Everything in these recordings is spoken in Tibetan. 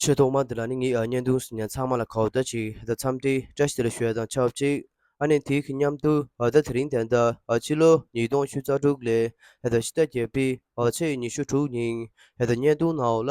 ཆོས་ཐོག་མ་འདི་ལ་ནི་ངས་བརྙན་ཐུང་ཟིན་ཡང་ཚང་མ་ལ་གོ་བརྡ་ཞིག་ད་འཚམས་འདྲི་བཀྲ་ཤིས་ལ་ཞོལ་དང་ཆབས་གཅིག་ཨ་ནེ་དེའི་མཉམ་དུ་ཨ་ད་དེ་རིང་དན་ད་ཕྱི་ལོ་ཉིས་སྟོང་ཞུ་རྩ་དྲུག་ལས་ད་ཕྱི་ཟླ་བརྒྱད་པའི་ཕྱི་ཉི་ཤུ་དྲུག་ཉིན་ད་བརྙན་ཐུང་ནའོ་ལ་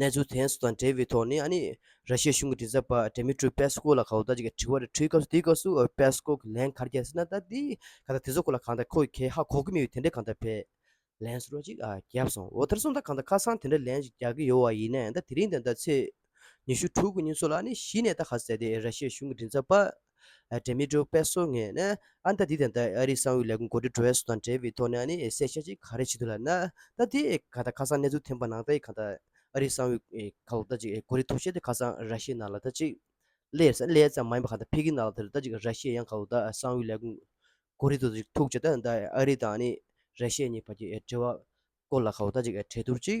གནས་ཚུལ་དེ་ཚོ་དང་འབྲེལ་བའི་ཐོག་ནས་ཨཱ་ནི་ར་ཤི་ཡའི་གཞུང་གི་དྲི་ཟ་བ་དྲི་མེད་ཀྲུའུ་པེ་སྐོ་ལ་ག་འུ་ད་ཅིག་གིས་དྲི་བ་རེ་འཁྲུལ་སྐབས་སུ་དེའི་སྐབས་སུ་འུ་པེ་སྐོ་གིས་ལན་གར་རྒྱག་སྲིད་ན་ད་དེའི་ག་ད་དེ་ཚོ་སྐོར་ལ་གང་ལྟར་ཁོ་གིས་ཁེ་ཧ་གོ་གི་མི་འོས་དེ་འདྲས་གང་ལྟར་བས། ལན་སོ་ར་ཅིག་བརྒྱབ་སོང་འོ་དར་སོང་ད་གང་ལྟར་ཁ་སང་དེ་འདྲས་ལན་ཞིག་རྒྱག་གི་ཡོད་བ་ཡིན་ན་ད་དེ་རིང་དང་ད་ཚེས་ཉི་ཤུ་དྲུག་གི་ཉིན་སོགས་ལ་ཨཱ་ནི་གཞི་ནས་ད་ག་ཟེ་དེ་ར་ཤི་ཡའི་གཞུང་གི་དྲི་ཟ་བ་འབྲེལ་མི་འགྲོ་པས་སོ་ངས་ཨ་མདའ་འདི་དང་ཨ་རིའི་གསང་བའི་ལས་ཁུངས་གོ་སྒྲིག་བྲོ་བས་སོ་དང་འབྲེལ་བའི་ཐོག་ནས་ཨ་ནི་གསལ་བཤད་ཅིག་ག་རེ་བྱེད་འདོད་ལ་ན་ད་དེ་ག་ད་ཁ་སང་གནས་ཚུལ་ཐོན་པ་ནང་ད་ཡི་ག་ད་ཨ་རིའི་གསང་བའི་ག་ལ་ད་ཅིག་གོ་རེ་ཐོ་བཤད་དེ་ཁ་སང་ར་ཤི་ཡའི་ནང་ལ་ད་ཅིག་ལས་ས་ལས་ཙམ་མ་ཡིན་པ་ག་ད་ཕི་གི་ནང་ལ་དེར་ད་ཅིག་ར་ཤི་ཡའི་ཡང་ག་ལ་ད་གསང་བའི་ལས་ཁུངས་གོ་རེ་ད་ཅིག་ཐུག་བྱེད་ད་ཨ་རི་དང་ཨ་ནི་ར་ཤི་ཡ་གཉིས་བར་གྱི་འབྲེལ་བ་སྐོར་ལ་ག་ད་ཅིག་གྲོས་བསྡུར་ཅིག་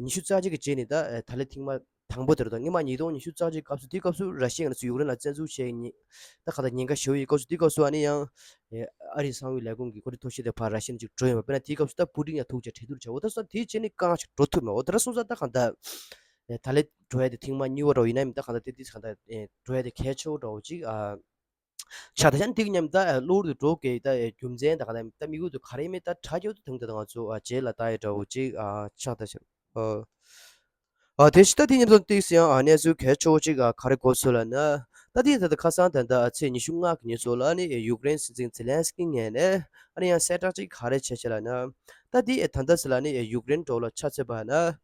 ཉི་ཤུ་རྩ་གཅིག་གི་རྗེས་ནས་ད་ད་ལའི་ཐེངས་མ་དང་པོ་དེར་དང་སྔོན་མ་ཉིས་སྟོང་ཉི་ཤུ་རྩ་གཅིག་སྐབས་སུ་དེའི་སྐབས་སུ་ར་ཤི་ཡའི་ནང་སུ་ཡུཀ་རེན་ལ་བཙན་འཛུལ་བྱས་ཉིན་ད་ག་ད་ཉིན་ག་ཞོའི་ཡི་སྐབས་སུ་དེའི་སྐབས་སུ་ཨ་ནི་ཡང་ཨ་རིའི་གསང་བའི་ལས་ཁུངས་ཀྱི་གོ་སྒྲིག་ཐོག་ཤི་ཏའི་ཕར་ར་ཤི་ནས་ཅིག་འགྲོ་ཡོང་བ་དཔེར་ན་དེའི་སྐབས་སུ་ད་པུ་ཏིང་ཡང་ཐུག་བཅས་འཕྲད་དུར་བྱས་འོ་ད་སོང་དེའི་རྗེས་ནས་གང་ཞིག་འགྲོ་ཐུབ་མེད་འོ་ད་ར་སོང་ད་གང་ད་ད་ལའི་འགྲོ་ཡ་དེ་ཐེངས་མ་གཉིས་བོ་རོ་ཡིན་ནའི་མི་ད་གང་ད་དེ་དེ་གང་ད་འགྲོ་ཡ་དེ་གལ་ཆེ་བོ་འདྲ་བོ་ཅིག་ཨ། ཤ་དང་ཤ་འདེགས་ཉམས་ལྟ་གློ་བུར་དུ་འགྲོ་ཀྱི་ལྟ་རྒྱུ་མཚན་དང་ལྟ་མིག་འོད་དུ་ག་རེ་མེད་ལྟ་ཁྲག་འགྱུར་དུ་དུང་ལྟ་དང་ང་ཚོ་རྗེས་ལ་ལྟ་ཡི་འདྲ་བོ་ཅིག་ཤ་དང་ཤ་དེ་ཤི་ལྟ་དེ་ཉམས་སམ་སྟེགས་སུ་ཡང་གནས་ཚུལ་གལ་ཆེ་བོ་ཅིག་ག་རེ་གོ་ཚོད་ལ་ན། ལྟ་དེ་ཡང་ད་ལྟ་ཁ་སང་ད་ལྟ་ཚེས་ཉི་ཤུ་ལྔ་གི་ཉིན་སོགས་ལ་ནི་ཡུཀ་རེན་སྲིད་འཛིན་ཛེ་ལན་སི་ཀིའི་ངས་ནས་ཨ་རི་ཡང་གསལ་བསྒྲགས་ཅིག་ག་རེ་བྱས་བྱས་ལ་ན། ལྟ་དེ་ད་ལྟ་ཟེར་ལ་ནི་ཡུཀ་རེན་འགྲོ་ལ་ཆ་ཚོད་པ་ན།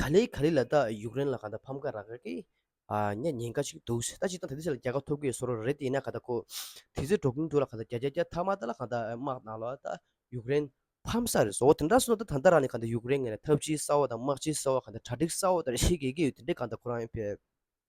ག་ལེ་ག་ལེ་ལ་ད་ཡུཀ་རེན་ལ་ག་ད་ཕམ་ཁ་རག་གི་ཉེ་ཉེན་ཀ་ཞིག་འདུག་ད་ཅིག་ད་དེ་དེ་ཆ་ལ་རྒྱལ་ཁ་ཐོབ་གི་སོ་རོ་རེད་དེ་ཡིན་ན་ག་ད་ཁོ་དེ་ཚོའི་འགྲོ་གིན་འདུག་ལ་ག་ད་རྒྱ་རྒྱ་རྒྱ་ཐ་མ་ད་ལ་ག་ད་དམག་ནང་ལོ་ད་ཡུཀ་རེན་ཕམ་ས་རེད་བཟོ་བོ་དེ་འདྲ་སོ་ད་ད་ད་རང་ནི་ག་ད་ཡུཀ་རེན་ངན་ལ་ཐབས་ཇི་ས་བོ་དང་དམག་ཇི་ས་བོ་ག་ད་གྲ་སྒྲིག་ས་བོ་ད་རེ་ཤི་གི་གི་ཡོད་དེ་འདྲས་ག་ད་ཁོ་རང་ཡོད་ཕེབས།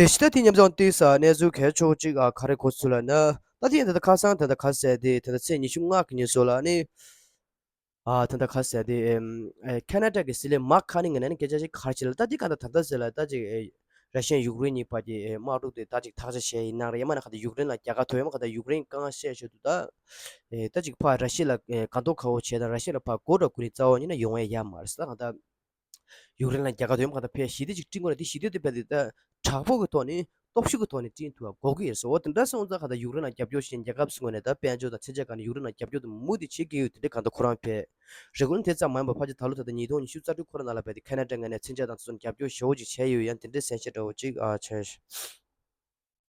དེ་ཕྱི་ད་ཐེངས་མཉམ་སྦྱོང་སྟེགས་སར་གནས་ཚུལ་གལ་ཆོག་གཅིག་ག་རེ་གོ་ཚུལ་ལ་ན། ད་ཐེངས་ད་ལྟ་ཁ་སང་ད་ལྟ་ཁ་ཟས་དེ་ད་ལྟ་ཚེས་ཉི་ཤུ་ལྔ་གི་ཉིན་སོགས་ལ་ནི། ད་ལྟ་ཁ་ཟས་དེ། ཁ་ན་ཀྲ་ཀི་སི་ལེ་མ་ཁ་ནི་ང་ན་ནི་སྐད་ཆ་ཞིག་གར་བྱེད་ལ་ད་འདི་ག་ད་ད་ད་ཟེར་ལ་ད་ཅིག། ར་ཤན་ཡུག་རེན་གཉིས་བར་གྱི་དམག་འཁྲུག་དེ་ད་ཅིག་ཐག་ཆ་ཞེ་ཡི་ནང་རེད་ཡ་མ་ན་ཁ་ད་ཡུག་རེན་ལ་རྒྱ་གར་ཐོ་ཡ་མ་ཁ་ད་ཡུག་རེན་ཀང་བཤད་ཤོད་དུ་ད། ད་ཅིག་ཕ་ར་ཤི་ལ་ག་འདོག་ཁ་བོ་བྱེད་དང་ར་ཤི་ལ་ཕ་གོ་འགྲོ་ཀུ་ནི་རྩ་བ་ཉི་ན་ཡོང་ཡ་ཡ་མ་རེད་ད་ང་ད། ཡུཀ་རེན་ལ་རྒྱལ་ཁ་དོན་གང་དུ་ཕེབས་ཞི་བདེ་ཅིག་བསྐྲུན་དགོས་ལ་དེ་ཞི་བདེ་དུ་ཕེབས་ཏེ་དྲག་པོའི་ཐོག་ནས་སྟོབས་ཤུགས་ཀྱི་ཐོག་ནས་བསྐྲུན་ཐུབ་པ་འགོག་གི་ཡིན་ཟེར་འོ་དེ་འདྲ་སོང་ཙང་གང་ལྟར་ཡུཀ་རེན་ལ་རྒྱབ་སྐྱོར་བྱེད་མཁན་རྒྱལ་ཁབ་སུ་ངོས་ནས་ད་དཔལ་འབྱོར་དང་ཚད་འཇལ་ཁང་ནས་ཡུཀ་རེན་ལ་རྒྱབ་སྐྱོར་དུ་མུ་མཐུད་བྱེད་ཀྱི་ཡོད་དེ་འདྲ་གང་ལྟར་ཁོ་རང་ཕེབས་རེ་གོ་ནི་དེ་ཙམ་མ་ཡིན་པར་ཕར་ཆེར་ད་ལོ་ད་ལྟ་ཉིས་སྟོང་ཉི་ཤུ་རྩ་དྲུག་ཁོ་རང་ནང་ལ་བས་ཏེ་ཁ་ན་ཏྲ་ངེས་ནས་ཚད་འཇལ་དང་དེ་ཚོར་རྒྱབ་སྐྱོར་ཞེ་བོ་ཅིག་བྱས་ཡོད་ཡང་དེ་འདྲའི་གཟན་ཤེད་འདྲ་བོ་ཅིག་བྱས།